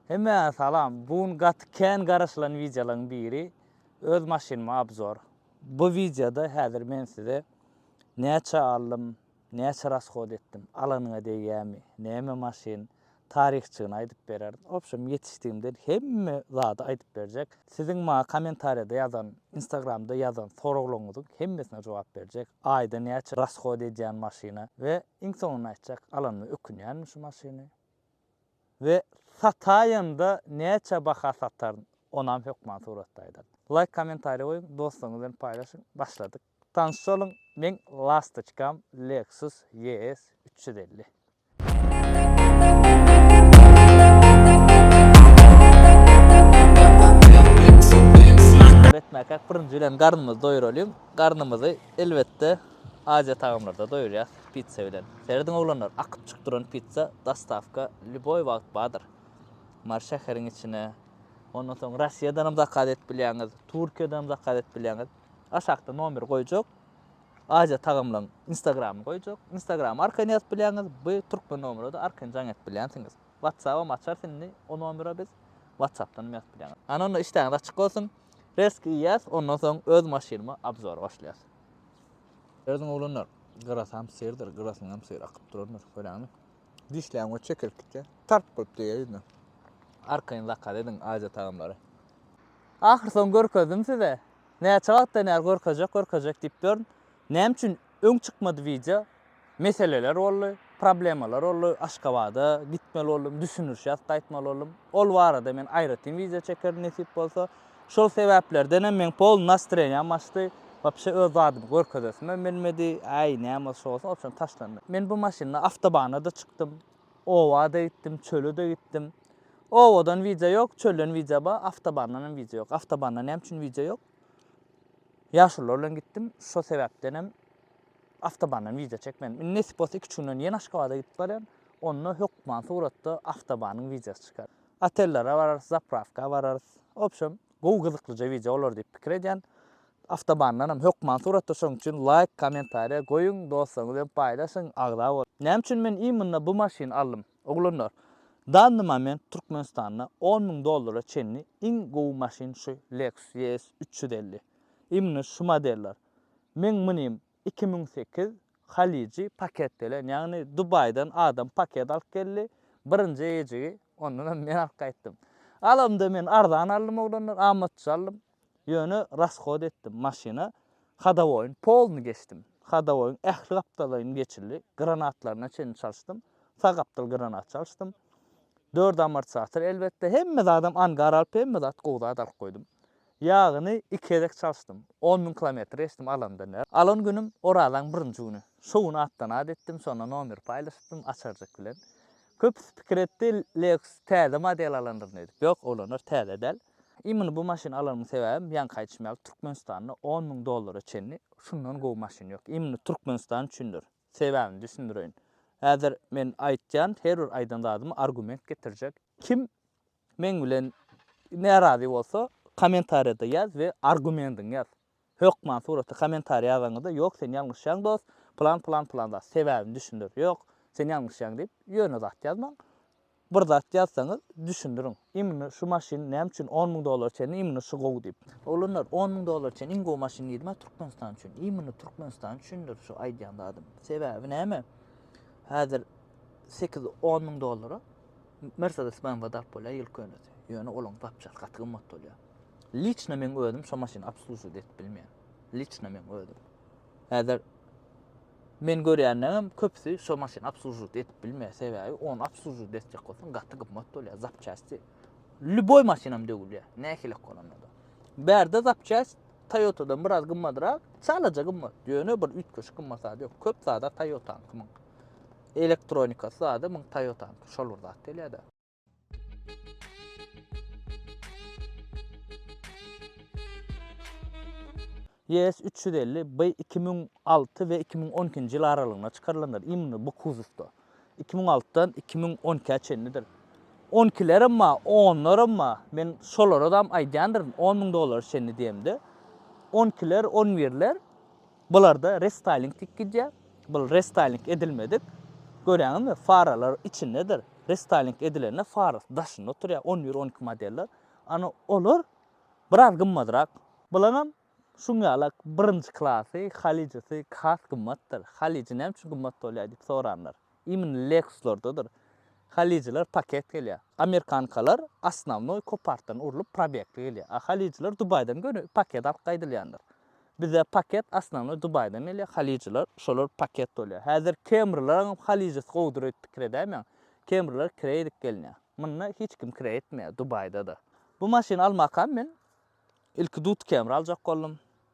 Hemmä salam! Bu gün gaty kän garaşylan wideolaryň biri öz maşynyma obzor. Bu wideoda häzir men size näçe aldym, näçe rashod etdim, alanyňa degýämi, näme maşyn, taryhçygyny aýdyp bererin. Obşem ýetişdigimden hemme zady aýdyp berjek. Siziň maňa kommentariýada ýazan, instagramda ýazan soraglaryňyzyň hemmesine jogap berjek. Aýda näçe rashod edýän maşyna we iň soňunda aýtjak, alanyma ökünýänmi şu maşyny. we sataýynda näçe baha sataryn onam hökman suratda aýdaryn. Laýk kommentariýa goýuň dostlaryňyz bilen paýlaşyň başladyk tanyş boluň meň lastoçkam Lexus ES üç ýüz elli. etmäkäk birinji bilen garnymyzy doýuralyň garnymyzy elbetde aziýa tagamlarda doýurýas. Pizza bilen. Serediň oglanlar akyp çyk duran pizza dostawka lýuboý wagt bardyr. Mary şäheriň içine. Ondan soň Russiýadanam zakaz edip bilýäňiz, Türkiýadanam zakaz edip bilýäňiz. Aşakda nomeri goýjak. Aziýa tagamlaryň instagramyny goýjak. Instagramy arkaýyn ýazyp bilýäňiz, by türkmen nomerede arkaýyn jaň edip bilýänsiňiz. Whatsappam açarys indi o nomere biz. Whatsappdanam ýazyp bilýäňiz. Ana onda işdäňiz açyk bolsun. Resk iýýäs, ondan soň öz maşynyma obzor başlaýas. Ýazyň oglanlar, gyrasam serdir, gyrasyňam ser akyp durandyr, köräňmi? Dişläň we çekilip gitýär. Tarp bolup degýär ýüzüne. Arkaýyn zakaz ediň aýja tagamlary. Ahyrsoňy görkezdim size. Näçe wagtdan bäri görkezjek, görkezjek diýip ýörün. Näme üçin öň çykmady wideo? Meseleler boldy, problemalar boldy, Aşgabada gitmeli boldum, düşündiriş ýazyp gaýtmaly boldum. Ol barada men aýratyn wideo çekerin nesip bolsa. Şol sebäplerdenem meň pol nastreniýam açdy. Wapşe öz zadymy görkezesimem bilmedi. Äý, näme şu bolsa, onsoň taşlandy. Men bu maşynda awtobana-da çykdym, oba-da gitdim, çöle-de gitdim. Obadan wideo ýok, çölden wideo bar, awtobandan hem wideo ýok. Awtobanda näme üçin wideo ýok? Ýaşulular bilen gitdim, şo sebäpdenem Awtobandan wideo çekmedim. Indi nesip bolsa iki üç günden ýene Aşgabada gidip barýan. Onda hökman suratda awtobanyň wideosy çykar. Otellere bararys, zaprawka bararys. Wobşem gowy gyzyklyja wideo bolar diýip pikir edýän. Awtobandan hem hökman suratda şoň üçin laýk, kommentariýa goýuň, dostlaryňyz bilen paýlaşyň, agza boluň. Näme üçin men immunna bu maşyny aldym? Oglanlar, danny moment Türkmenistanda on müň dollara çenli iň gowy maşyn şu Lexus ES üç ýüz elli. Immunna şu modeller. Meň munym iki müň sekiz Halyjy paket gelen, ýagny Dubaýdan adam paket alyp geldi, birinji ejigi ondanam men alyp gaýtdym. Galamda men arzan aldym oglanlar, amatça aldym. Ýöne raskod etdim maşyna, hadowoýyň polny geçdim. Hadowoýyň ähli gapdalaýyny geçildi, granatlaryna çenli çalyşdym. Sag gapdal granat çalyşdym. Dört amortizator elbetde, hemme zadam angar alyp hemme zat gowy zat alyp goýdum. Ýagyny iki gezek çalyşdym. On müň kilometr geçdim alanda ne. Alan günüm Orazaň birinji güni. Şo gün atdan at etdim, şonda nomer paýlaşypdym Açarjyk bilen. Köpüsi pikir etdi, Lexus täze model alandyr ne edip. Ýok, oglanlar täze däl. Imini bu maşyny alanymyň sebäbim, ýaňky aýdyşym ýaly Türkmenistanda on müň dollara çenli şundan gowy maşyn ýok. Imini Türkmenistan üçindir. Sebäbini düşündireýin. Häzir men aýtýan, her bir aýdan zadyma argument getirjek. Kim Meň bilen närazy bolsa komentarýada ýaz we argumendiňi ýaz. Hökman suratly komentariý ýazanyňda ýok sen ýalňyşýaň dos, plan plan plan zat sebäbini düşündir. Ýok, sen ýalňyşýaň diýip ýöne zat ýazmaň. Bir zat ýazsaňyz düşündiriň. Imni şu maşyn näme üçin on müň dollara çenli imni şu gowy diýip. Oglanlar on müň dollara çenli iň gowy maşyn diýdimä Türkmenistan üçin. Imni Türkmenistan üçindir şu aýdýan zadym. Sebäbi näme? Häzir sekiz on müň dollara. Mercedes BMW dap bolýar ýyl könesi. Ýöne olaň zapçasy gaty gymmat bolýar. Liçno meň özüm şo maşyny obslužiwat edip bilmeýän. Liçno meň özüm. Häzir men görýänlerim köpüsi şo maşyny obslužiwat edip bilmeýär. Sebäbi ony obslužiwat etjek bolsaň gaty gymmat bolýar zapçasty. Lýuboý maşynam döwülýär. Nähilek bolanda-da. Bärde zapçast Toyota-dan biraz gymmadrak, çalaja gymmat. Ýöne bir üýtgeşik gymmat zady ýok. Köp zada Toyota-nyňky. Elektronikasy zady muň Toyotanyky şol bir zat gelýärda. YS üç ýüz elli B iki müň alty we iki müň on ikinji ýyl aralygynda çykarylandyr. Imni bu kuzowda. Iki müň altydan iki müň on ikä çenlidir. On ikilerem bar, onlarem bar. Men şolaradam aýdýandyryn, on müň dollara çenli diýemde. On ikiler, on birler. Bularda restyling tik gidýär. Bul restyling edilmedik. Görýäňizmi, faralar içindedir. Restyling edilende farasy daşynda oturýar, on bir, on iki modeller. Ana olar biraz gymmadrak. Bulaňam şuň ýala birinji klasy, halyjysy has gymmatdyr. Halyjy näme üçin gymmat bolýar diýip soranlar. Imini Lexuslardadyr. Halyjylar paket gelýär. Amerikankalar osnownoý kopartdan urlup probegtli gelýär. A halyjylar Dubaýdan göni paket alyp gaýdylýandyr. Bize paket osnownoý Dubaýdan gelýär, halyjylar şolar paket dolýar. Häzir kemrilaryňam halyjysy gowudyr öýdüp pikir edäýmäň. Kemriler kire edip gelýär. Munda hiç kim kire etmeýär, Dubaýda-da. Bu maşyny almakam men ilki Dut Camry aljak boldum.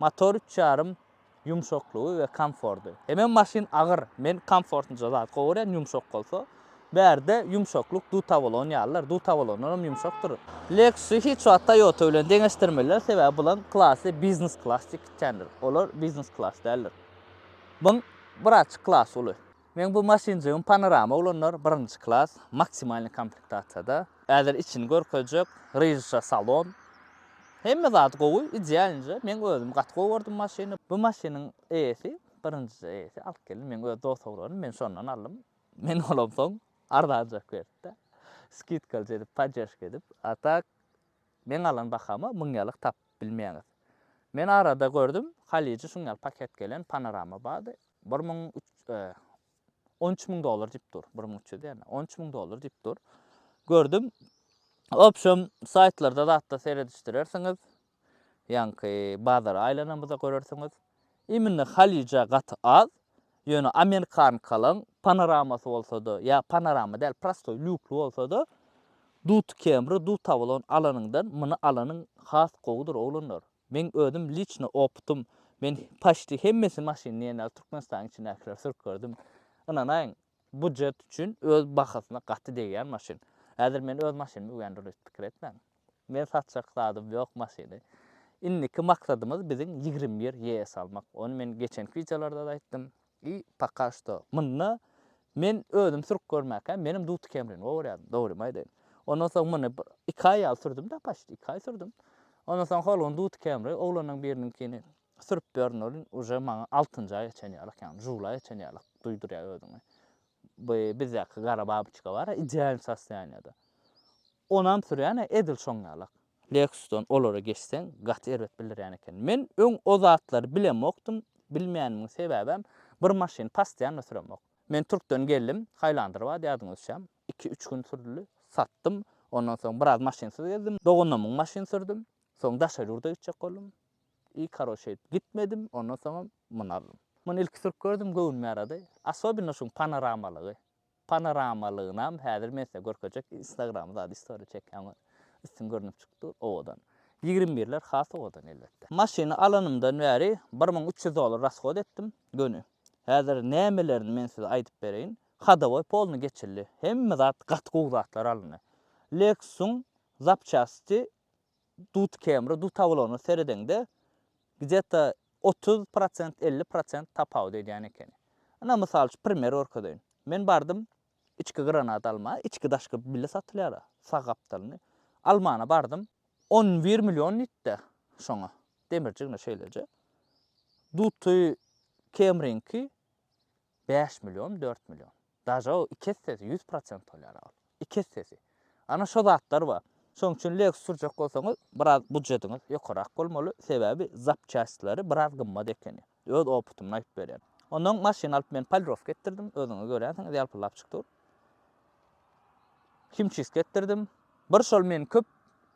Motor üç ýarym, ýumşaklygy we komfordy. Hemem maşyn agyr, men komfortnyja zat gowy görýän, ýumşak bolsa. Bärde ýumşaklyk dutavolon ýalydyr, dutavolondan hem ýumşakdyr. Lexus-y hiç wagt Toyota bilen deňeşdirmeliler, sebäbi bulaň klasy biznes-klas diýip gitýändir, olar biznes-klas däldir. Buň biraçyk klas uly. Meň bu maşynjygym panorama ulanlar, birinji klas, maksimalnyý komplektasiýada. Häzir içini görkezjek, ryžşa salon. Hemme zady gowy, idealnyja, meň özüm gaty gowy gördüm maşyny. Bu maşynyň eýesi, birinjije eýesi alyp geldi, meň öz dost ogralym, men şondan aldym. Men olam soň arzanjak beripde, skidkalyja edip, podderžka edip. A tak, meň alan bahama müň ýalyk tapyp bilmeýäňiz. Men arada gördüm, halyjy şuň ýaly paket gelen panorama bardy. Bir müň üç, on üç müň dollar diýip dur. Bir müň üç ýüz ýa-da on üç müň dollar diýip dur. Gördüm. Obşem saýtlarda zatda seredişdirersiňiz. Ýaňky bazara aýlanymyzda görersiňiz. Immine Halija gaty az. Ýöne Amerikankalyň panoramasy bolsa-da, ýa panorama däl, prostoý lýukly bolsa-da, Dut Camry, Dut Avalon alanyňdan muny alanyň has gowudyr oglanlar. Meň özüm liçno opytym, men paçti hemmesi maşyn diýenler Türkmenistanyň içindäkileri sürüp gördüm. Ynanaýyň, bujet üçin öz bahasyna gaty degýän maşyn. Häzir men öz maşynymy öwän durýus pikir etmäň. Men satjak zadym ýok maşyny. Indiki maksadymyz biziň ýigrimi bir ýes almak. Ony men geçenki wideolarda-da aýtdym. I poka što munda men özüm sürüp görmäkä menem duty kemrin obar ýadym dogrymy aýdaýyn ondan soň muny bir iki aý ýaly sürdümda paşt iki aý sürdüm ondan soň holgun duty kemri oglanlaň biriniňkini sürüp ýörün olin uje maňa altynjy aýa çen ýalak ýagny žuly aýa çen ýalak duýdurýa özüňi bu bizdäki gara babyçka bara idealny sostoýaniýada onam sürýän edil şoň ýalak. Lexus-dan olara geçseň, gaty erbet bildirýän eken. Men öň o zatlary bilemokdym, bilmänimiň sebäbem, bir maşyny pastoýanna süremok. Men Türkden geldim, Highlander bardy ýadyňyza düşýäm, iki-üç gün sürdi, satdym, ondan soň biraz maşynsyz gezdim, doganymyň maşyny sürdüm, soň daşary ýurda gitjek boldum, i karoç şeýdip gitmedim, ondan soňam muny aldym. Muny ilki sürüp gördüm, göwnüme ýarady, asobino şuň panoramalygy. Panoramalygynam häzir men size görkezjek instagram zady story çekýän üstün görnüp çykyp dur owadan. Ýigrimi birler has owadan elbetde. Maşyny alanymdan bäri bir müň üç ýüz dollar rashod etdim göni. Häzir nämelerini men size aýdyp bereýin. Hodowoý polny geçildi. Hemme zat gaty gowy zatlar alyndy. Lexus-yň zapçasty dut kemri, dut awlagyna seredeňde gdeta otuz prosent, elli prosent tapawut edýän ekeni. Ina mysal üçin primer gorkezeýin. Men bardym içki granat alma, içki daşky bile satylýar-a, sag gapdalyny. Almana bardym, on bir million diýdi-de şoňa, demirjigine şeýleje. Duty kemriňki Bäş million, dört million. Daže o iki essesi, ýüz prosent bolýar-a ol. Iki essesi. Ana şo zatlar bar. Şonuň üçin Lexus sürjek bolsaňyz, biraz budjetiňiz ýokarak bolmaly, sebäbi zapçastleri biraz gymmat ekeni. Öz opytymdan aýdyp berýän. Onnoň maşyn alyp men polirowka etdirdim, özüňiz görýänsiňiz, ýalpyldap çyk dur. Himçistka etdirdim. Bir şol meni köp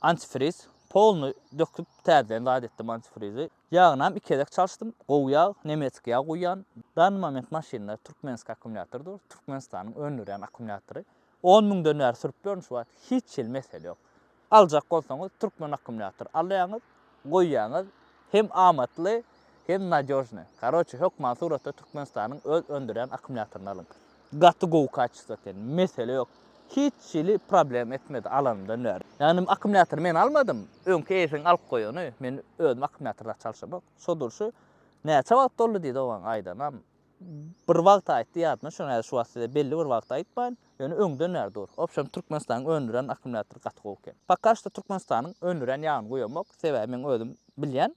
Antifriz polny döküp täzeden zat etdim antifrizi. Ýagynam iki gezek çalyşdym. Gowy ýag, nemetski ýag guýýan. Dany moment maşynda türkmenski akkumulýator dur. Türkmenistanyň öndürýän akkumulýatory. On müňden bäri sürüp ýörün şu wagt. Hiç hili mesele ýok. Aljak bolsaňyz türkmen akkumulýatory alýaňyz. goýýaňyz hem amatly hem nadýožny. Karoçe hökman suratda Türkmenistanyň öz öndürýän akkumulýatoryny alyň. Gaty gowy kaçesto eken. Mesele ýok. Hiç hili problem etmedi alanymdan bäri. Ýagny akkumulýatory men almadym. Öňki eýesiniň alyp goýany. Men özüm akkumulýatory zat çalşamok. Şo durşy näçe wagt doldy diýdi oňa aýdanam. Bir wagt aýtdy ýadyma düşen häzir şu wagt size belli bir wagty aýtmaýyn, ýöne öňden bäri dur. Obşem Türkmenistanyň öndüren akkumulýatory gaty gowy eken. Poka şto Türkmenistanyň öndürýän ýagyny guýamok, sebäbi meň özüm bilýän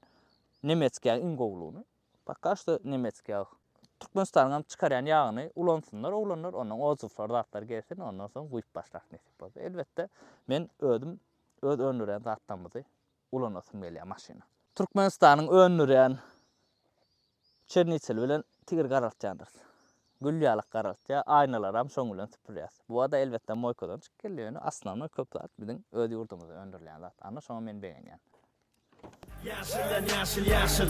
nemetski ýagyň iň gowulygyny. Poka şto nemetski ýag. Türkmenistanyňam çykarýan ýagyny ulansynlar oglanlar, ondan ozzuwlar zatlar gelsin, ondan soň guýup başlarys nesip bolsa. Elbetde men özüm öz öndürýän zatlarymyzy ulanasym gelýär maşyny. Türkmenistanyň öndürýän çerniteli bilen tigir garaltýandyrys. Gül ýalak garaltýar, aýnalaram şoň bilen süpürýäs. Bu zada elbetde moýkadan çykyp gelýär, ýöne osnownoý köp zat biziň öz ýurdumyzda öndürilýän zat. Ana şoňa men begenýän. Ýaşyldan ýaşyl ýaşyl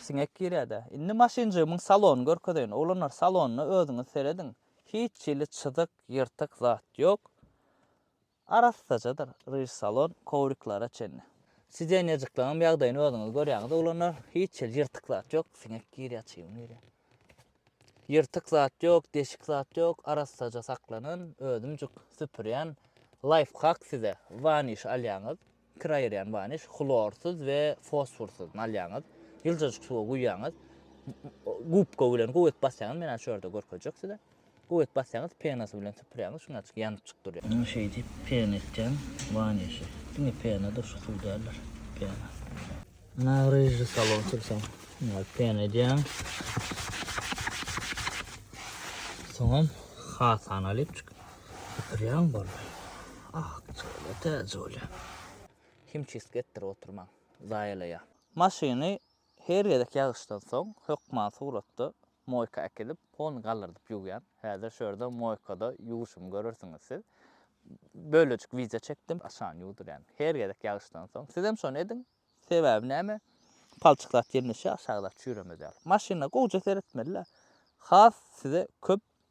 Siňek girýädä. Indi maşynjygymyň salonyny görkezeýin. Oglanlar, salonyna özüňiz serediň. Hiç hili çyzyk, ýyrtyk zat ýok. Arassajadyr, ryž salon, kowriklara çenli. Sidenýejikleňem ýagdaýyny özüňiz görýäňiz, oglanlar. Hiç hili ýyrtyk zat ýok. Siňek girýär, çybyn girýär. Ýyrtyk zat ýok, deşik zat ýok, arassaja saklanan. Özümjik süpürýän. Laýfhak size. Waniş alýaňyz. Kir aýyrýan waniş, hlorsyz we fosforsyz, alýaňyz. Ýyljajyk suwa guýýaňyz. Gubka bilen guwek basýaňyz, men häzir şu ýerde görkezjek size. Guwek basýaňyz, penasy bilen süpürýäňiz, şuňacik ýanypjyk durýar. Indi şeýdip pena etýän wanişi. Diňe pena-da, şu suw däldir. Pena. Ana ryjy salon sürseň. Ýa pen edýäň. Soňam hasan alyp çyk. Ýaň bol. Ah, çöle täze bolýa. Himçistki etdirip oturmaň. Zaýalaýa. Maşyny her gezek ýagyşdan soň hökman suratda Moýka äkidip, poluny gallardyp ýuwýan. Häzir şu ýerde moýkada ýuwuşymy görersiňiz siz. Bölejik wideo çekdim, aşany ýuwdurýan. Her gezek ýagyşdan soň. Sizem şony ediň. Sebäbi näme? Palçyk zat ýerleşýär, aşaky zat çüýremez ýaly. Maşyna gowja seretmeli-le. Has size köp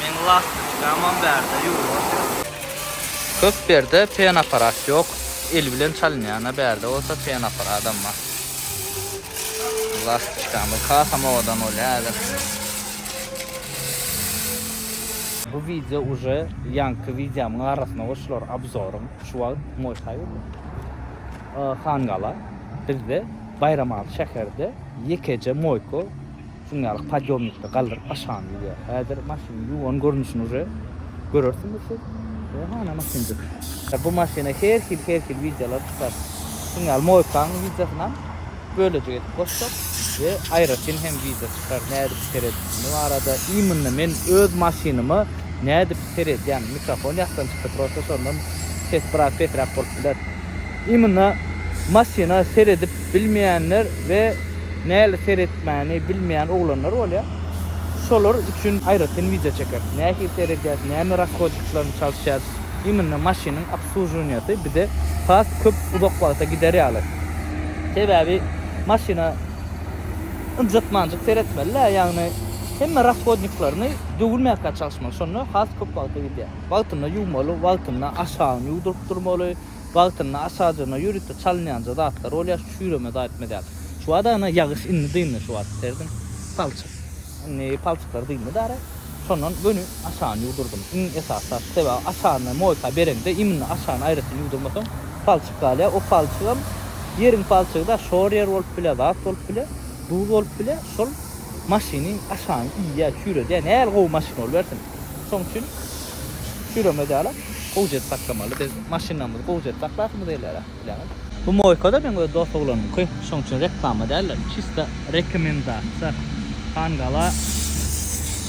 Meň lastiçkamam bärde ýuwulýar. Köp berde pen aparat ýok. El bilen çalynýana bärde bolsa pen aparadam bar. Lastiçkamyz hasam owadan bolýar häzir. Bu wideo uje ýaňky wideomyň arasyna goşular obzoryň. Şu wagt Moý Haýyr Hangala bizde Baýramaly şäherde ýekeje Moýko Simýalyk podýomnikde galdyryp aşagam ýüzýär. Häzir maşynyň ýuwan görnüşini uje görersiňiz siz. Ýa hana maşynjyk. Bu maşyna her hil her hil wideolar çykar. Şuň ýaly mowikanyň wideosynam bölejik edip goşjak we aýratyn hem wideo çykar nädip seredişini barada imynna men öz maşynyma nädip seredýän mikrofon ýatdan çykdy prosta şondan ses biraz pesräk bolup biler. Imna maşyna seredip bilmeýänler we näle seretmäni bilmeýän oglanlar bolýar. Şolar üçin aýratyn wideo çekeris. Nähili seredýäs, näme rakodiklaryny çalyşýas. Imna maşynyň obslužuwaniýasy bize has köp uzak wagta gider ýaly. Sebäbi maşyna ynjytmanjyk seretmeli-dä, ýagny hemme rashodniklaryny döwülmäkä çalyşmaly. Şonda has köp wagta gidýär. Wagtynda ýuwmaly, wagtynda aşagyny ýuwduryp durmaly. Wagtynda aşajyna ýörite çalynýanja zatlar bolýar şu çüýreme zaýtmez ýaly. Şu wada ene ýagyş indi dyndy şu wada serdim palçyk indi palçyklar dyndy dara şondan göni aşany ýuwdurdym iň esasy zat sebäbi aşany moýka bereňde imini aşany aýratyn ýuwdurmasaň palçyk galýar o palçygam ýeriň palçygy da şor ýer bolup bilýär zat bolup bilýär duz bolup bilýär şol maşyny aşany iýýär çüýredýär nähili gowy maşyn bolubersin. Şoň üçin çüýremeli dälä. Gowja edip saklamaly. Biz maşynlarymyzy gowja edip saklasymyz gelýär-ä, bileňiz. Bu moýka-da meň öz dost oglanymky. Şoň üçin reklama däl-de, çista rekomendasiýa. Hangala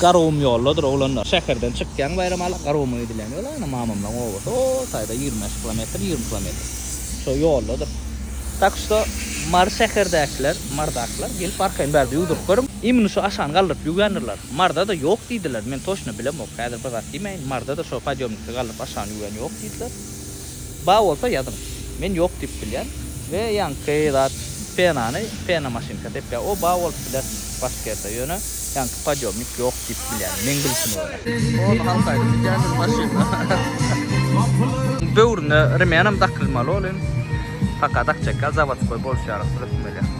Garagum ýoldadyr, oglanlar. Şäherden çykýaň Baýramala, Garaguma gidilýän ýol, ana, mamamlaryň obasy, o taýda ýigrimi bäş kilometr, ýigrimi kilometr. Şo ýoldadyr. Tak şto, Mary şäherdäkiler, Marydakylar, gelip arkaýyn bärde ýuwduryp görüň. Imni şu aşany galdyryp ýuwýandirler. Marzada ýok diýdiler. Men toşna bilemok. Häzir bir zat diýmäýin. Marzada şo podýomnikde galdyryp aşagyny ýuwýan ýok diýdiler. Bar bolsa ýazyň. Men ýok diýip bilýän. We ýaňky zat penany pena maşynka sepýär. O bar bolup biler başgerde. Ýöne ýaňky podýomnik ýok diýip bilýän. Meň bilşime görä. Ol halk aýdym diýýändir maşynda. Böwrüne remenam dakylmaly ol hem. Paka dakjak ýaly zawodskoý boluşýarys, rysmeli.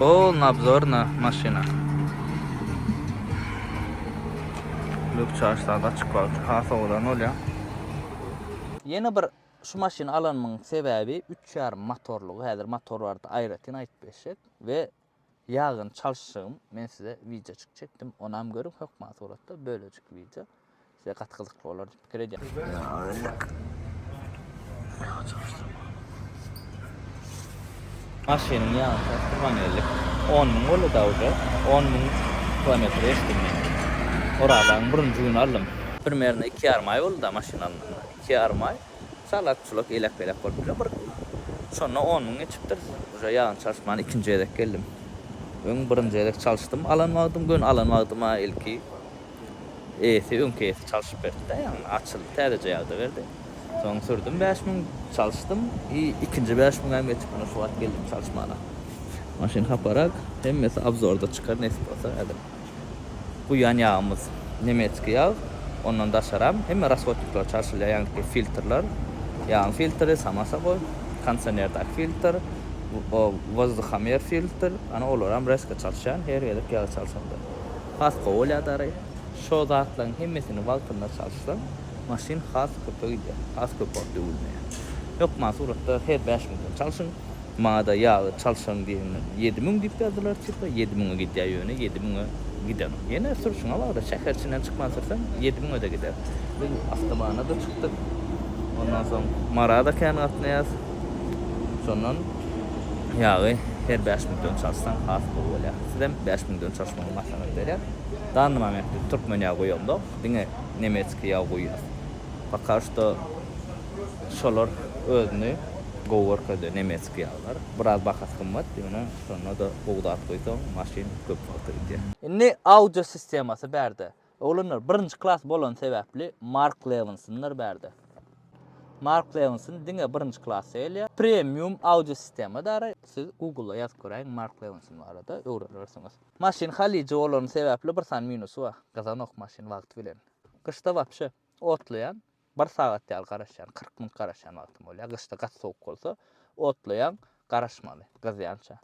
Ol nabzorna maşyna. Luk çaşlady açyk wagty has sowadan bolýar. Ýene bir şu maşyny alanymyň sebäbi üç ýarym motorlygy häzir motor barada aýratyn aýdyp geçjek we ýagyny çalyşjagym men size wideoçyk çekdim onam görüň hökman suratda bölejik wideo. Size gaty gyzykly bolar diýip pikir edýän. Maşynyň ýan şasy turan ýerlik on müň boldy da uje on müň kilometr geçdim men. Oraz aýyň birinji güni aldym. Primerno iki ýarym aý boldy da maşyn alnanda. Iki ýarym aý. Salak çulak elek belek bolup bilen bir şonda on müň geçipdir. Uje ýagyny çalyşman ikinji gezek geldim. Öň birinji gezek çalyşdym alan wagtym göni alan wagtyma ilki Eýesi öňki eýesi çalşyp berdi-dä ýaňy, açyldy, täzeje ýagda berdi. Soň sürdüm bäş müň, çalşdym i ikinji bäş müňäm ýetip mine şu wagt geldim çalşmana. Maşyn haparak, hemmesi obzorda çykar nesip bolsa häzir. Guýýan ýagymyz nemetskiý ýag, ondan daşaram hemme rashodnikler çalşylýar ýaňky filtrler, ýagyň filtri, sama soboi, kondisionerdaky filtr, wozduhomer filtr, ana olaram reska çalşýan her gezek ýagy çalşanda. Has kowalýadary, şo zatlaryň hemmesini wagtynda çalyşsaň, maşyn has köpe gidýär, has köp wagt döwülmeýär. Hökman suratda her bäş müňden çalyşyň, maňada ýagy çalyşaň diýeninden ýedi müň diýip ýazdylar çipe, ýedi müňe gidýär ýöne ýedi müňe gidenok. Ýene sürşüňe bagly, şäher içinden çykman sürseň ýedi müňe-de gider. Biz awtobana-da çykdyk, ondan soň Marada kän gatnaýarys, şondan ýagy her bäş müňden çalyşsaň has gowy bolýar. Sizem bäş müňden çalyşmaly. Muňa maslahat berer. Danny momentde türkmen ýagy guýamzok, diňe nemetskiý ýagy guýýas. Poka şto şolar özüni gowy görkezýär nemetskiý ýaglar. Biraz bahasy gymmat, ýöne şonda-da gowy zat guýsaň maşyn köp wagta gidýär. Indi audio sistemasy bärde. Oglanlar, birinji klas bolany sebäpli Mark Lewinson-lar bärde. Mark Lewinson diňe birinji klasda gelýär. Premium audio sistema dara. Siz Google-a ýazyp göräýiň Mark Lewinson barada, öwrenersiňiz. Maşyn halyja bolany sebäpli bir sany minusy bar. Gyzanok maşyn wagty bilen. Gyşda wapşe otlaýan, bir sagat ýaly garaşýan, kyrk minut garaşýan wagtym bolýar. Gyşda gaty sowuk bolsa, otlaýaň, garaşmaly, gyzýança.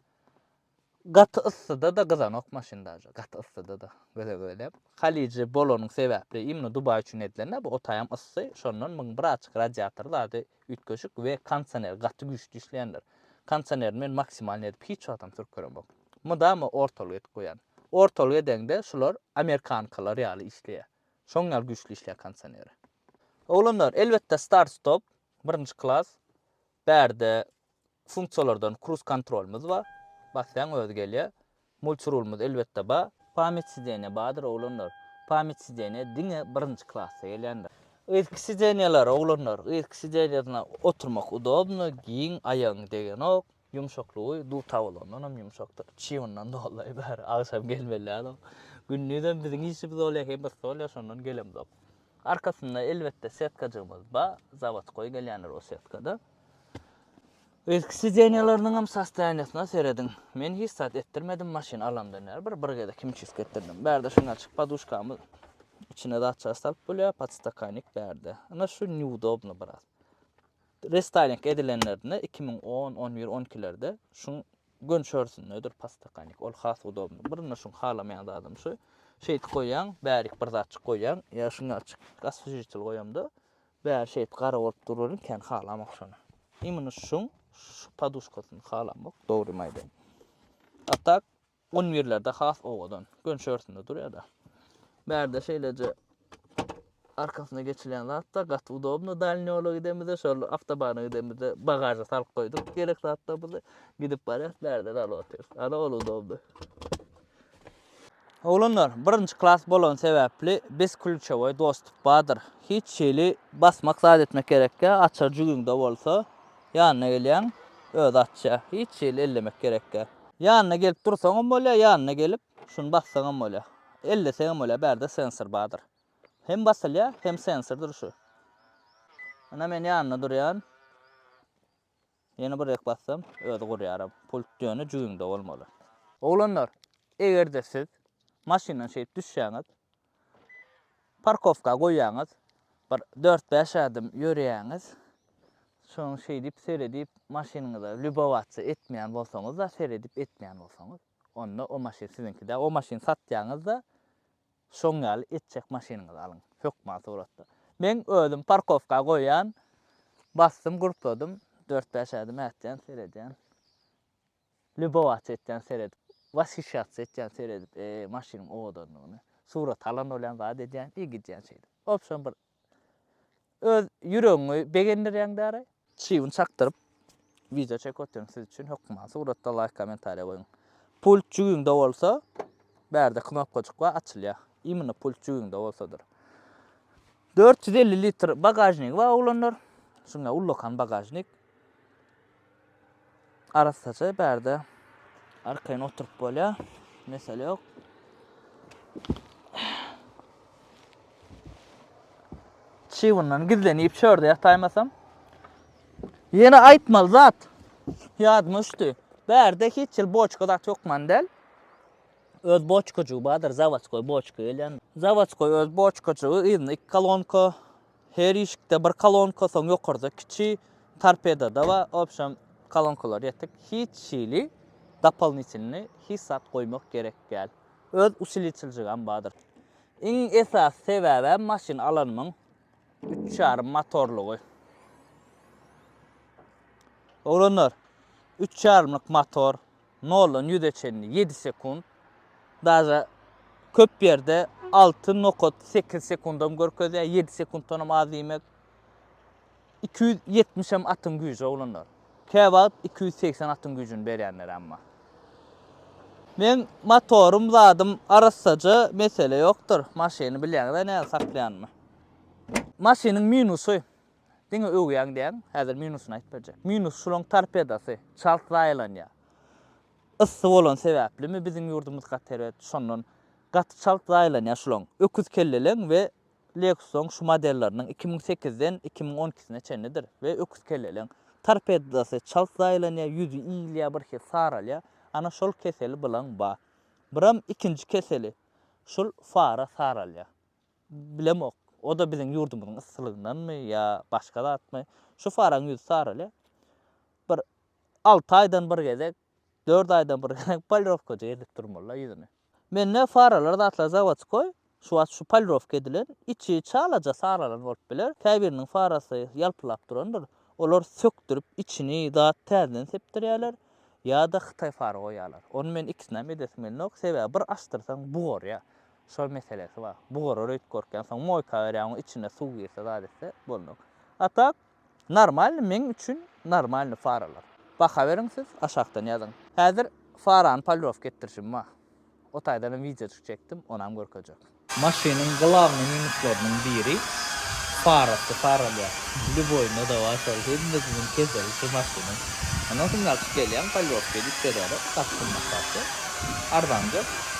Gaty yssyda-da gyzanok maşyn daže, gaty yssyda-da göze göýläp. Halije bolanyň sebäpli, imno Dubaý üçin edilen-dä bu, otaýam yssy, şondan muň bir açyk radiatory zady üýtgeşik we kondisioner gaty güýçli işleýändir. Kondisionerini men maksimalny edip hiç wagtam sürüp göremok. Mydama ortalyk edip goýýan. Ortalyk edeňde şular amerikankalar ýaly işleýär. Şoň ýaly güýçli işleýär kondisioneri. Oglanlar, elbetde start-stop, Birinji klas. Bärde funksiýalardan kruz kontrolymyz bar. Basýaň özi gelýär. Multirulymyz elbetde bar. Pamýat sideniýa bardyr oglanlar. Pamýat sideniýa diňe birinji klasda gelýändir. Yzky sideniýalar oglanlar. Yzky sideniýasynda oturmak udobno, giň, aýagyň degenok. Ýumşaklygy duta bolandan hem ýumşakdyr. Çybyndan doly bäri agşam gelmeli däl ol. Gündizem biziň işimiz bolýar, hem yssy bolýar, şondan gelemzok. Arkasynda elbetde setkajygymyz bar. Zawodkoý gelýändir o setkada. Yzky sideniýalarynyň hem sostoýaniýasyna serediň. Men hiç zat etdirmedim maşyn alamdan bäri. Bir bir gezek himçisk etdirdim. Bärde şuny açyk poduşkamyz içine zatçasy salyp bolýar, podstakannik bärde. Ine şu neudobno biraz. Restyling edilenlerinde iki müň on, on bir, on ikilerde şuň gönçörsündedir pastakalnik. Ol has udobnyý. Birinde şuň halamaýan zadym şu. Şeýdip goýýaň, bärik bir zatjyk goýýaň. Ýa şuňňaçyk aswježitel goýamda, bäri şeýdip gara bolup dur welin kän halamok şony. Imini şuň şu poduşkasyny halamok, dogrymy aýdaýyn. A tak, Un birlerde has owadan, gönç örtünde durýar-da. Bärde şeýleje arkasyna geçilýän zat-da, gaty udobno. Dalni ýola gidemizde, şol awtobana gidemizde bagaža salyp goýduk gerek zatlarymyzy. Gidip barýas, bärde dal otyrys. Ana, ol udobno. Oglanlar, birinji klas bolany sebäpli biz klýuçowoý dostup bardyr. Hiç hili basmak zat etmek gerekýä, açar jübiňde bolsa. Ýanyna gelýäň, özi açýa. Hiç hili ellemek gerekgä. Ýanyna gelip dursaňam bolýa, ýanyna gelip, şuny bassaňam bolýa. Elleseňem bolýa, bärde sensor bardyr. Hem basylýa, hem sensor durşy. Ine men ýanyna durýan. Ýene birek bassam, özi gurýaram. Pult ýöne jübiňde bolmaly. Oglanlar, eger-de siz maşyndan şeýdip düşýäňiz. Parkowka goýýaňyz, bir dört-bäş ädim ýörýäňiz. Soň şeýdip seredip maşynyňyza lýubowatsiýa etmeýän bolsaňyz-da, seredip etmeýän bolsaňyz, onda o maşyn siziňki däl. O maşyny satýaňyz-da, şoň ýaly etjek maşynyňyzy alyň, hökman suratda. Meň özüm parkowka goýýan, basdym, gurpladym, dört-bäş ädim ätýän, seredýän. Lýubowatsiýa etýän seredip, washisyýatsiýa etýän seredip, e, maşynyň owadanlygyna. Surat alan bolýan zat edýän i gidýän şeýdip. Wobşem bir öz ýüregiňi begendirýäň däri. Çybyny çakdyryp, wideo çekip otyryň siz üçin hökman. Suratda laýk kommentariýa goýuň. Pult jübiňde bolsa, bärde knopkajyk bar açylýar. Imенно pult jübiňde bolsadyr. Dört ýüz elli litr bagažnigi bar oglanlar. Şunda ullakan bagažnik. Arassaça bärde arkaýyn oturyp bolýar. Mesele ýok. Çygundan gizlenip çörde ýataýmasam. Ýene aýtmaly zat. Ýadyma düşdi. Bärde hiç ýyl boçka zat ýokman däl. Öz boçkajygy bardyr, zawodskoý boçka gelýän. Zawodskoý öz boçkajygy, yzynda iki kolonka, Her işikde bir kolonka, soň ýokarda kiçi, torpedada we obşem kolonkalar ýetik. Hiç hili dopolnitilnyý hiç zat goýmak gerek däl. Öz usiliçiljigem bardyr. Iň esasy sebäbem maşyn alanymyň üç ýarym motorlygy. Oglanlar, üç ýarymlyk motor. Noldan ýüze çenli ýedi sekunt, daže köp ýerde alty nokat sekiz sekundam görkezýär, ýedi sekuntdanam az diýmek. Iki ýüz ýetmiş hem atyň güýji oglanlar. Käwagt iki ýüz segsen atyň güýjüni berýänler hem bar. Meň motorym zadym arassaja mesele ýokdur. Maşyny bilýäňiz-ä nädip saklaýanymy. Maşynyň minusy, Diňe öwýäň diýäň, häzir minusyny aýyp berjek. Minus şulaň torpedasy, çalt zaýalanýar. Yssy bolany sebäplimi biziň ýurdumyz gaty erbet, şondan gaty çalt zaýalanýar şulaň. Öküz kelleleň we Lexus-yň şu modelleriniň iki müň sekizden iki müň on ikisine çenlidir we öküz kelleleň torpedasy çalt zaýalanýar, ýüzi iýilýär birhili saralýar. Ana şol keseli bilaň bar. Biram ikinji keseli şul fara saralýar. Bilemok, o-da biziň ýurdumyzyň yssylygyndanmy ýa başga zatmy, şu faraň ýüzi saraly. Bir alty aýdan bir gezek, dört aýdan bir gezek polirowkajy edip durmaly-la ýüzüni. Mende faralar zatlar zawodskoý, şu wagt şu polirowka edilen, içi çalaja saralan bolup biler, käbiriniň farasy ýalpylap durandyr. Olar sökdürip, içini zat täzeden sepdirýärler ýa-da hytaý fara goýýarlar. Ony men ikisinem edesim gelenok, sebäbi bir açdyrsaň bugarýar. Şol meselesi bar. Bugarar öýtüp görkeň soň moýka berýär oň içine suw girse zat etse boldy. A tak normalny meň üçin normalny faralar. Baha beriň siz aşakdan ýazyň. Häzir farany polirowka etdirişim bar. O taýdanam wideojyk çekdim onam görkezjek. Maşynyň glawnyý minuslarynyň biri farasy faralýar. Lýuboýyna dawa şol hemmesiniň keseli şu maşynyň. Ondan soň ýalçyp gelýäň polirowka edip berýärler. Gaty gymmat zatdy. Arzanjak.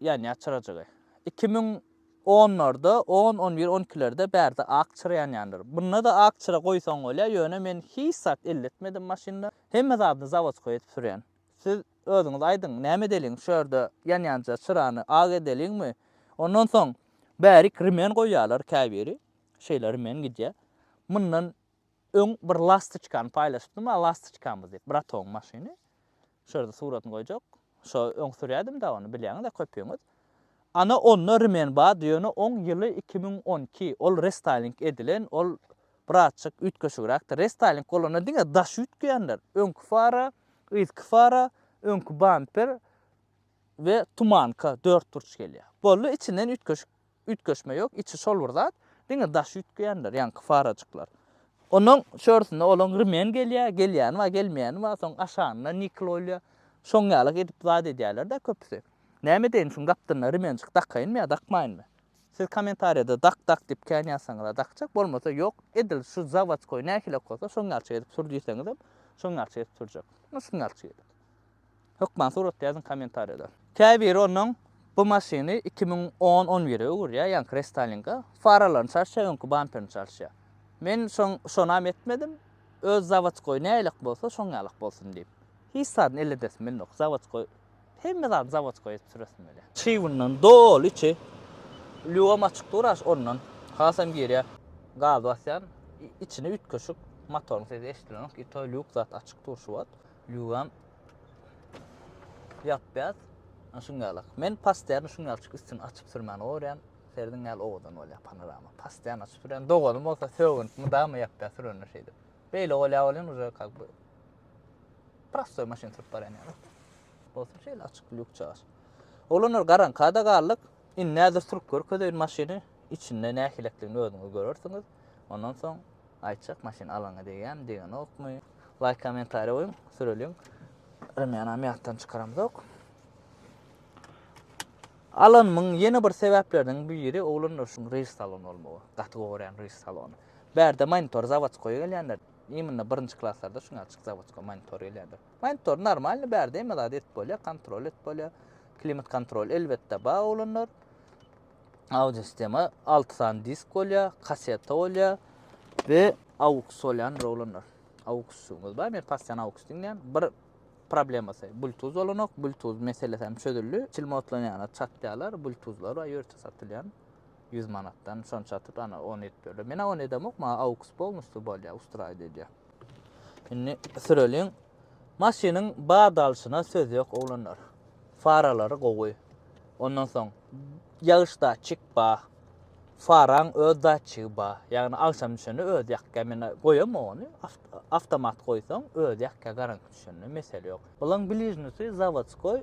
Ýanýar çyrajygy. Iki müň onlarda, on, on bir, on ikilerde bärde ak çyra ýanýandyr. Bunda-da ak çyra goýsaň bolýar, ýöne men hiç zat elletmedim maşynda. Hemme zadyny zawodskoý edip sürýän. Siz özüňiz aýdyň, näme edeliň, şu ýerde ýanýanja çyrany ak edeliňmi? Ondan soň bärik remen goýýarlar, käbiri şeýle remen gidýär. Mundan öň bir lastoçkany paýlaşypdym, a lastoçkamyz diýip, bratogyň maşyny. Şu ýerde suratyny goýjak. Şo öň sürýädim-dä ony, bilýäňiz-ä köpüňiz. Ana onda rmen bar, ýöne oň ýyly iki müň on iki, ol restaýling edilen, ol birazjyk üýtgeşigräkdir. Restaýling bolanda diňe daş üýtgeýänler, öňki fara, yzky fara, öňki bamper we tumanka, dörtburç gelýär. Boldy, içinden üýtgeşik Üýtgeşme ýok, içi şol bir zat, diňe daşy üýtgeýändir, ýaňky farajyklar. Onuň çörsünde olaň rmen gelýär, gelýäni bar, gelmeýäni bar, soň aşagynda nikl goýulýar. Şoň ýalak edip zat edýärler-dä köpüsi. Näme edeýin, şuň gapdalynda rmenjik dakaýynmy ýa dakmaýynmy? Siz kommentariýada dak, dak diýip kän ýazsaňyz-a dakjak, bolmasa ýok, edil şu zawodskoý nähili-ak bolsa şoň ýalçyk edip sür diýseňizem, şoň ýalçyk edip sürjek. Ýa şuň ýalçyk edip. Hökman suratda ýazyň kommentariýada. Käbiri onuň bu maşyny iki müň on on bire öwürýär, ýaňky restylinga, faralaryny çalyşýar, öňki bamperini çalyşýar. Men şoň şonam etmedim, öz zawodskoý nälelik bolsa şoň ýalyk bolsun diýip. Hiç zadyny elledesim gelmok, zawodskoý hemme zady zawodskoý edip süresim gelýär. Çybyndan doly içi lýuwam açyk dur aş ondan hasam girýär. Gaz basýan içini üýtgeşik motoryň sesi eşidilenok i to lýuk zat açyk dur şu wagt. Ýuwam. Ýapýas. Ana şuň ýalak. Men pasteýany şuň ýalçyk üstüni açyp sürmän gorýan. Serdiň ýaly owadan bolýar panorama. Pasteýany açyp sürýän. Doganym bolsa sögünip mydama ýapýar sürende şeýdip. Beýle bolýar bolýan uje kak bu. Prostoý maşyn sürüp barýan ýaly. Bolsa şeýle açyk lýuk çaş. Oglanlar garaňkada galdyk. Indi näzir sürüp görkezeýin maşyny. Içinde nähilekdigini özüňiz görersiňiz. Ondan soň Aýtjak maşyn alaňa degýämi degenokmy. Laýk kommentariýa goýuň süreliň. Rymýanam ýatdan çykaramzok. Alanmyň ýene bir sebäpleriniň biri oglan durşuň reýs salony bolmagy. Gaty gowy görýän reýs salony. Bärde monitor zawodskoý gelýändir. Immnna birinji klaslarda şuňa açyk zawodskoý monitor gelýändir. Monitor normalny bärde hemme zady edip bolýar, kontrol edip bolýar. Klimat kontrol elbetde bar oglanlar. audio sistema alty sany disk bolýar, kaseta bolýar we aux bolýan rolanlar. Auxuňyz bar, men pastan aux diňlän. Bir problemasy bluetooth bolanok, bluetooth meselesi hem çözüldi. Çilmotlan ýana çatýarlar, bluetoothlar bar, ýörite satylýan. 100 manatdan şony çatyp, ana 10 edip berdi. Men 10 edemok, maňa aux polnusty bolýar, ustraýdy edýär. Indi süreliň. Maşynyň bad alşyna söz ýok oglanlar. Faralary gowy. Ondan soň ýagyş datçik bar. Faraň öz datçigi bar. Ýagny agşam düşende özi ýakýar. Men goýamok ony. Awtomat goýsaň özi ýakýar garaňky düşende mesele ýok. Bulaň bližnisy zawodskoý.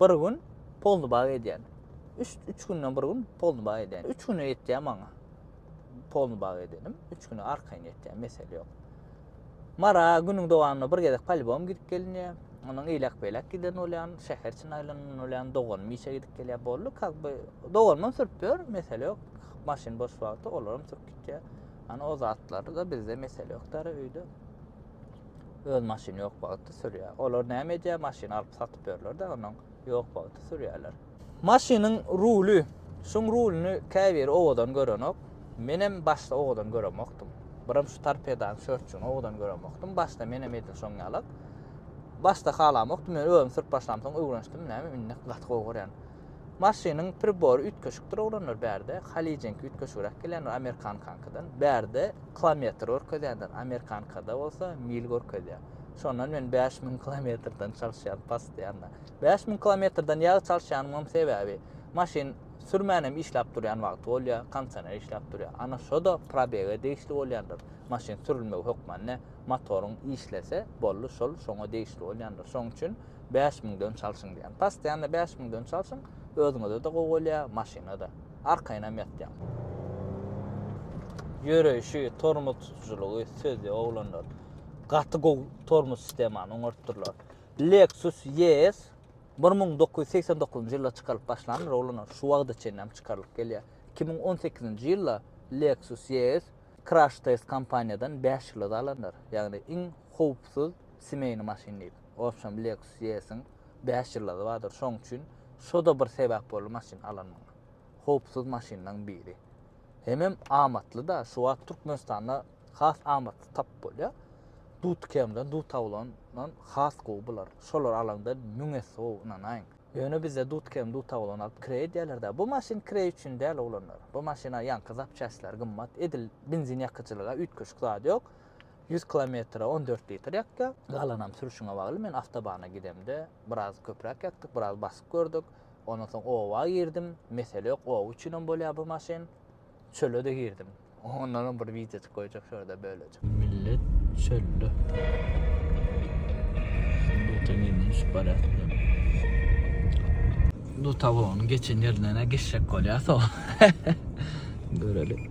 Bir gün polnybag edýän. Üç, üç günden bir gün polnybag edýän. Üç güne ýetýär maňa. Polnybag edenim. Üç güne arkaýyn ýetýär, mesele ýok. Mara günüň dowamynda bir gezek polibom gidip gelinýär. Onuň eýlek-beýlek giden bolýan, şäher içinde aýlanan bolýan, doganym işe gidip gelýär, boldy. Kak by, doganymam sürüp ýör, mesele ýok. Maşyn boş wagty olaram sürüp gitýär. Ana o zatlarda bizde mesele ýokdary öýde. öz maşyny ýok bagtda sürýär. Olar näme edýär? Maşyny alyp satyp ýörler-de, onuň ýok bagtda sürýärler. Maşynyň ruly, şuň rulyny käbiri owadan görenok. Menem başda owadan göremokdym. Birem şu torpedanyň şörtjügini owadan göremokdym. Başda menem edil şoň ýalak. Başda halamokdym, ýöne özüm sürüp başlamsoň öwrenişdim. Näme, indi gaty gowy görýän. Maşynyň pribory üýtgeşikdir oglanlar bärde. Halyjyňky üýtgeşigräk gelýändir amerikankankydan. Bärde kilometr görkezýändir, amerikankada bolsa mil görkezýär. Şondan men bäş müň kilometrden çalyşýan postoýanna. Bäş müň kilometrden ýagy çalyşýanymam sebäbi, maşyn sürmänem işläp durýan wagty bolýar, konsener işläp durýar. Ana şo-da probege degişli bolýandyr. Maşyn sürülmegi hökmany motoryň işlese, boldy, şol şoňa degişli bolýandyr. Şoň üçin Bäş müň dönç alşyň diýýän. Postoýanna bäş müň dönç alşyň, özüňize-de gowy bolýar, maşyna-da. Arkaýynam ýatýaň. Ýöreýşi, tormoz tutujylygy, söz ýok oglanlar. Gaty gowy tormoz sistemany oňartdyrlar. Lexus ES bir müň dokuz ýüz segsen dokuzynjy ýylda çykarylyp başlandyr oglanlar. Şu wagta çenlem çykarylyp gelýär. Iki müň on sekizinji ýylda Lexus ES Crash Test kompaniýadan bäş ýylda alandyr. Ýagny iň howpsuz smeýny maşyn diýip. Opsiýam Lexus ES-iň bäş ýyllygy bardyr. Şoň üçin şo-da bir sebäp boldy maşyn alanyma. Howpsuz maşynlaryň biri. Hemem amatly-da, şu wagt Türkmenistanda has amatly tapyp bolýar. Dut KM-den, dut awulandan has gowy bular. Şolary alaňda müň esse gowy, ynanaýyň. Ýöne bizde dut KM, dut awulan alyp kireý edýärler-dä. Bu maşyn kireý üçin däl, oglanlar. Bu maşyna ýaňky zapçastlar gymmat. Edil benzin ýakyjylyga üýtgeşik zat ýok. Ýüz kilometre on dört litr ýakýar. Galanam sürüşiňe bagly. Men awtobana gidemde biraz köpräk ýakdyk, biraz basyp gördük. Ondan soň oba girdim. Mesele ýok, oba üçinem bolýar bu maşyn. Çöle-de girdim. Ondanam bir wideoçyk goýjak şu ýerde bölejik. Millet çölde. Dota minus barýar. Dota won geçen ýerinden-ä geçjek bolýar so. Göreli.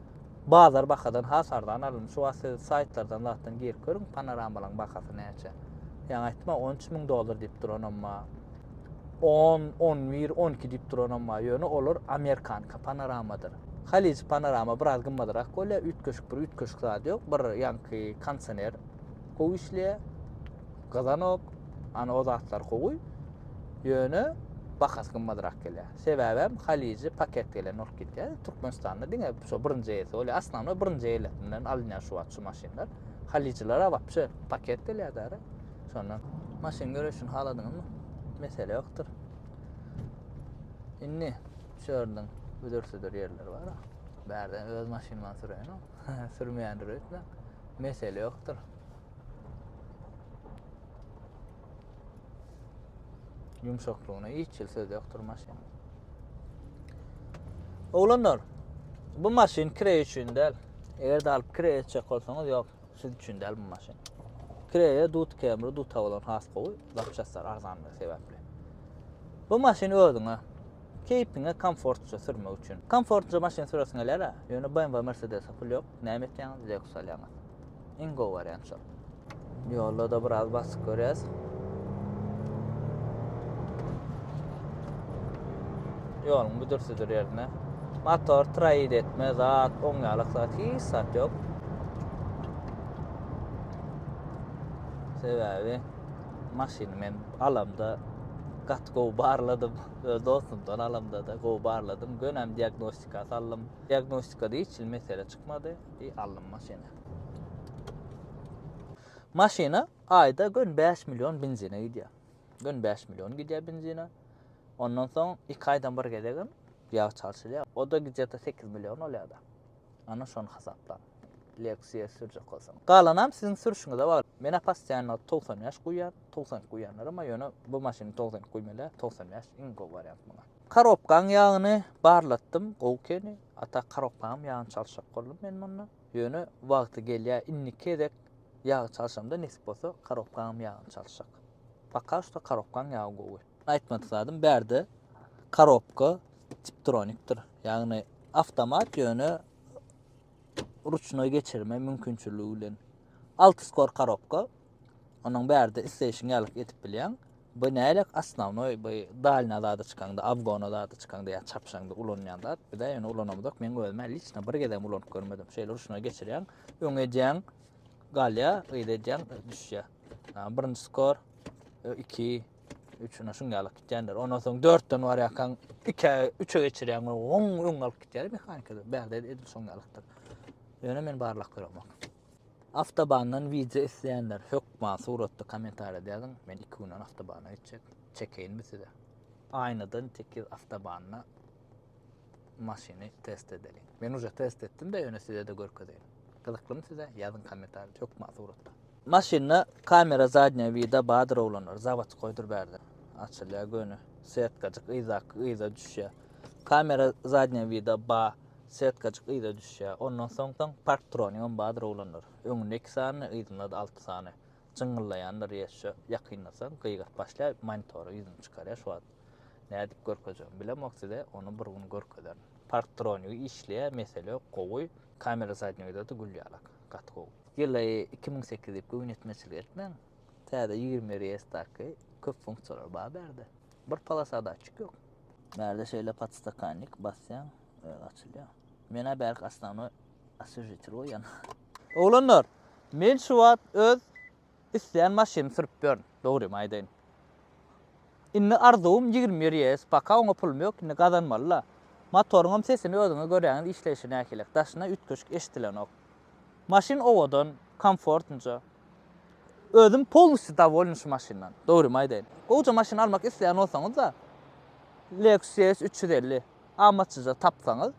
Bazar bahadan has arzan alyndy. Şu wagt siz saýtlardan zatdan girip görüň, panoramalaryň bahasy näçe. Ýaňy aýtma 13 müň dollar diýip duranam bar. 10, 11, 12 diýip duranam bar. Ýöne olar amerikanka panoramadyr. Halyjy panorama biraz gymmadyrak bolýar, üýtgeşik bir üýtgeşik zady ýok. Bir ýaňky konsener gowy işleýär. Gyzanok, ana o zatlar gowy. Ýöne bahasy gymmadrak gelýär. Sebäbi hem Haliji paket gelen bolup gitýär. Türkmenistanda diňe şu birinji ýersi bolýar. Aslanma birinji ýerlerinden alynýar şu wagt şu maşynlar. Halijilere wapşe paket gelýär däre. Şondan maşyn görüşini haladyňyzmy? Mesele ýokdur. Indi şu ýerden büdürsidir ýerler bar. Bärde öz maşynymdan süreýin. Sürmeýändir öýtmäň. Mesele ýokdur. Ýumşaklygyna hiç ýyl söz ýokdur maşyn. Oglanlar, bu maşyn kire üçin däl. Eger de alyp kire etjek bolsaňyz, ýok, siz üçin däl bu maşyn. Kireye dut kemri, dut havalan has gowy, zapçaslar arzan sebäpli. Bu maşyn özüňe. Keýpiňe komfortça sürmek üçin. Komfortça maşyn süresim gelýär-ä. Ýöne BMW, Mercedes-e pul ýok. Näme etýäňiz, Lexus alýaňyz. Iň gowy wariant şol. Ýolda-da biraz basyk görýäs. Ýoluň büdür-südür ýerine. Motor traýid etme, zat, oň ýalak zat, hiç zat ýok. Sebäbi maşyny men alamda gaty gowy barladym. Öz dostum tanalamda-da gowy barladym, gönäm diagnostika saldym. Diagnostikada hiç hili mesele çykmady, i aldym maşyny. Maşyna aýda gön bäş million benzine gidýär. Gön bäş million gidýär benzine. Ondan soň iki aýdan bir gezegem ýag çalşylýar. O-da gije-de sekiz million bolýar-da. Ana şony hasaplap, leksiýa sürjek bolsaň. Galanam siziň sürüşiňize bagly. Menä passiýanlygy togsan bäş guýýar, togsan iki guýýanlaram bar, ýöne bu maşyny togsan iki guýmaly-ä, togsan bäş iň gowy wariant muňa. Karobkaň ýagyny barlatdym, gowy ekeni. Hatda karobkaňam ýagyny çalşak boldum men munda. Ýöne wagty gelýär, indiki gezek ýagy çalşamda nesip bolsa, karobkaňam ýagyny çalşak. Poka şda karobkaň ýagy gowy. Aýtmadyk zadym bärde korobka tiptronikdir. Ýagny awtomat ýöne ruçnoý geçirme mümkinçiligi bilen. Alty skor korobka. Onuň bärde isleýşiň ýalyk edip bilýäň. Bu näle asnawnoý bu dalna zada çykaňda, awgona zada çykaňda ýa çapşaňda ulanýan zat. Bizä ýöne ulanamyzok. Men özüme liçna bir gezegem ulanyp görmedim. Şeýle ruçnoý geçirýäň, öň edýäň, galýa, gyz edýäň, düşýä. Birinji skor, iki, Üçüne şun ýaly gitýänler. Ondan soň dörtden barýarkaň, ikä, üçe geçirýän we on öň alyp gitýär mehanikada. Bärde edil şun ýalykdyr. Ýöne men barlak göremok. Avtobandan wideo isleýänler hökman suratda kommentariýada ýazyň. Men iki günden avtobana geçjek. Çekeýinmi size? Aýnadan tekiz avtobanda maşyny test edeliň. Men uje test etdimde ýöne sizede görkezeýin. Gyzyklymy size ýazyň komentarda hökman suratda. Maşynda kamera zadnýa wida badyr oglanlar zawat goýdur bärde açylýa göni setkajyk yzdaky yza düşýä kamera zadnýa wida ba setkajyk yza düşýä ondan soň soň park troninam badyr oglanlar öňünde iki sany yzynda alty sany jyňňyllaýandyr ýeşşe ýakynlasaň gygyryp başlaýa monitory ýüzüni çykarýa şu wagt. Nädip görkezjegim bilemok size ony bir gün görkezerin. Parktronik işleýä mesele ýok gowy. Kamera zadni widada gül ýalak. Gaty gowy. Ýyly iki müň sekiz diýip göwün ýetmezçilik etmäň. Täze ýigrimi bir es daky köp funksiýalary bar bärde. Bir polasa datçik ýok. Bärde şeýle podstakannik basýaň özi açylýar. Menä bärik osnovnoý oswežitelý goýýan. Oglanlar, men şu wagt öz Islän maşyny sürüp ýörün, dogrymy aýdaýyn. Indi arzuwym ýigrimi bir ýes, paka oňa pulum ýok, indi gazanmaly-la. Motoryňam sesini özüňiz göräňiz işleýşi nähilek, daşyna üýtgeşik eşdilenok. Maşyn owadan, komfortnja. Özüm polnostýu dowolny şu maşyndan, dogrymy aýdaýyn. Gowja maşyn almak isleýän bolsaňyz-da, Lexus ES üç ýüz elli. amatsyza tapsaňyz,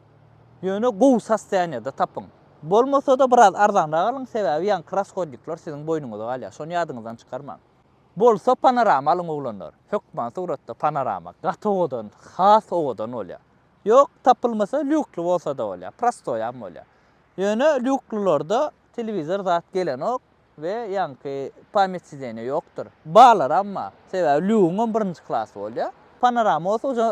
ýöne gowy sostoýaniýada tapyň. Bolmasa-da biraz arzanrak alyň, sebäbi ýaňky rashodnikler siziň boýnuňyza galýar, şony ýadyňyzdan çykarmaň. Bolsa panorama alyň oglanlar, hökman suratda panorama gaty owadan, has owadan bolýar. Ýok, tapylmasa lýukly bolsa-da bolýar, prostoýam bolýar. Ýöne lýuklylarda telewizor zat gelenok. We ýaňky pamýat sideniýa ýokdur. Barlaram bar. Sebäbi Lýugyňam birinji klasy bolýar. Panorama bolsa uje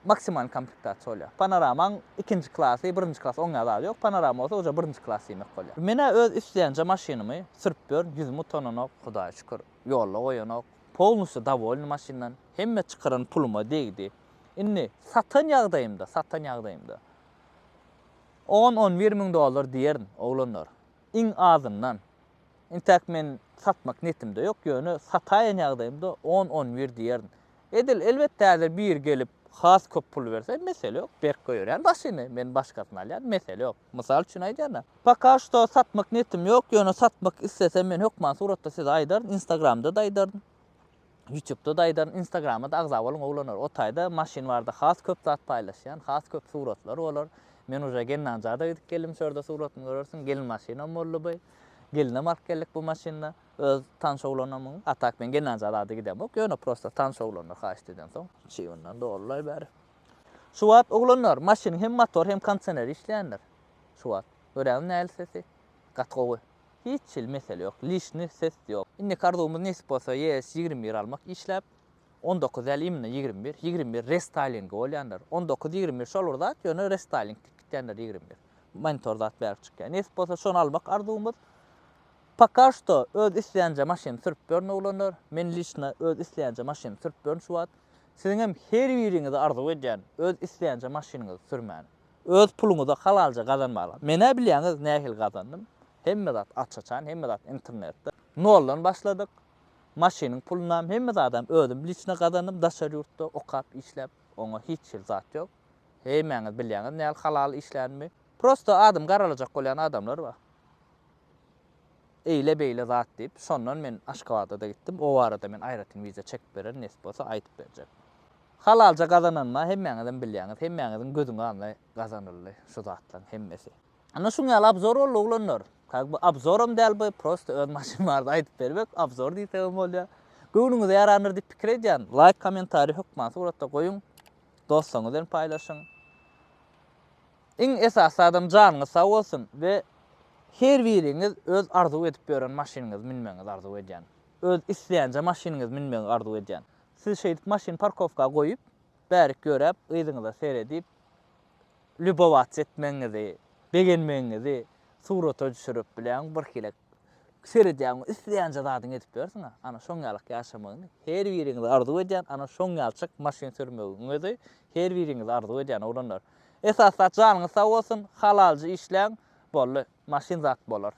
maksimalny komplektasiýa bolýar. Panoramaň ikinji klasy, birinji klasy oň ýaly zady ýok. Panorama bolsa uje birinji klas diýmek bolýar. Men-ä öz isleýänje maşynymy sürüp ýörün, ýüzüm utananok, Hudaýa şükür, ýolda goýanok. Polnusýo dowolny maşyndan. Hemme çykaran puluma degdi. Indi satan ýagdaýymda, satan ýagdaýymda on-on bir müň dollar diýerin, oglanlar. Iň azyndan, intäk men satmak netimde ýok, ýöne sataýan ýagdaýymda on-on bir diýerin. Edil, elbetde, häzir biri gelip, has köp pul berse, mesele ýok, berk goýberýän başyny, men başgasyny alýan, mesele ýok. Mysal üçin aýdýan-da. Poka şto satmak netim ýok, ýöne satmak islesem, men hökman suratda size aýdaryn, instagramda-da aýdaryn. Ýutubda-da aýdaryn, Instagrama-da agza boluň oglanlar. O taýda maşyn barada has köp zat paýlaşýan, has köp suratlar bolar. Men uje Gennanjada gidip geldim, şu ýerde suratymy görersiň. Gelin maşynam boldy bu. Gelinem alyp geldik bu maşynda. Öz tanyş oglanymyň. A tak men Gennanja zada gidemok. Ýöne prosta tanyş oglanlar haýyşt edensoň, çybyndan dolulaý bäri. Şu wagt, oglanlar, maşynyň hem motory, hem kondisioner işleýändir. Şu wagt. Göräýiň nähili sesi. Gaty gowy. Hiç hili mesele ýok, lişni ses ýok. Indiki arzuwymyz nesip bolsa ES ýigrimi bir almak işläp, on dokuz däl imna ýigrimi bir, ýigrimi bir restaýlingi bolýandyr, on dokuz ýigrimi bir şol bir zat ýöne restaýling dik gitýändir ýigrimi bir monitor zat bärik çykýar nesip bolsa şony almak arzuwymyz Poka şto öz isleýänje maşyny sürüp ýörün oglanlar men lişno öz isleýänje maşyny sürüp ýörün şu wagt siziňem her biriňize arzuw edýän öz isleýänje maşynyňyzy sürmäni Öz puluňyza halalja gazanmaga. Menä bilýäňiz nähili gazandym. Hemme zat aç-açan, hemme zat internetde. Noldan başladyk. Maşynyň pulunam, hemme zadam özüm liçno gazandym daşary ýurtda okap, işläp. Oňa hiç hili zat ýok. Hemmäňiz bilýäňiz nähili halal işlänimi. Prosta adymy garalajak bolýan adamlar bar. eýle-beýle zat diýip, şondan men Aşgabada-da gitdim, o barada men aýratyn wiza çekip bererin, nesip bolsa aýdyp berjek. Halalja gazananyma hemmäňizem bilýäňiz, hemmäňiziň gözüň alny gazanyldy şu zatlaryň hemmesi. Ana şuň ýaly abzor boldy oglanlar. Ka bu abzoram däl bu, prosta öz maşyn barada aýdyp bermek, abzor diýsegem bolýar. Göwnüňize ýarandyr diýip pikir edýän, laýk, kommentariý hökman suratda goýuň, dostlaryňyz bilen paýlaşyň. Iň esasy zadam janyňyz sag bolsun we her biriňiz öz arzuw edip ýören maşynyňyzy münmegiňizi arzuw edýän. Öz isleýänje maşynyňyzy münmegi arzuw edýän. Siz şeýdip maşyny parkowka goýup, bärik ýöräp, yzyňyza seredip, lýubowats etmegiňizi, begenmegiňizi surata düşürip biläň birhili. Seredýäňmi, isleýänçe zadyňy edip bilersiň-a. Ana şoň ýalyk ýaşamagyňy her biriňiz arzuw edýän, ana şoň ýalçyk maşyn sürmegiňizi her biriňiz arzuw edýän oglanlar. Esas zat janyňyz sag bolsun, halalja işläň, boldy, maşyn zat bolar.